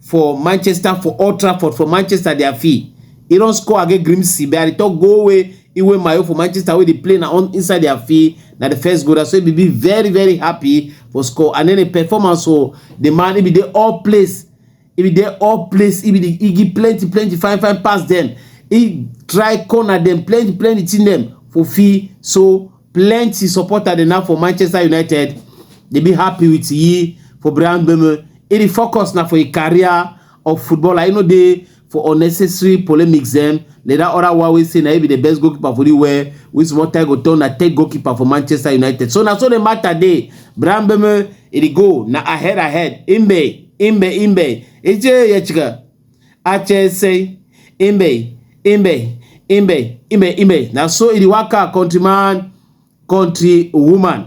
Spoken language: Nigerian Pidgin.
for manchester for old trafford for manchester dia fee e don score against grimsby but i dey tok goal wey iwe mayo for manchester wey dey play na on inside dia fee na di first goal so e be very very happy for score and then di performance o di man e be dey all place e be dey all place e be dey e give plenty plenty fine fine pass dem e try corner dem plenty plenty thing dem for fee so plenty supporter dey now for manchester united dey be happy with yi for brian bemo e dey focus na for a career of footballer e no dey for unnecessary polemics dem like that other one wey say na he be the best goalkeeper for the world wey small time go turn na third goalkeeper for manchester united so na so the matter dey brian bemo e dey go na ahead ahead imbe imbe imbe eje yechika ache say imbe imbe imbe imbe imbe na so e dey waka country man country woman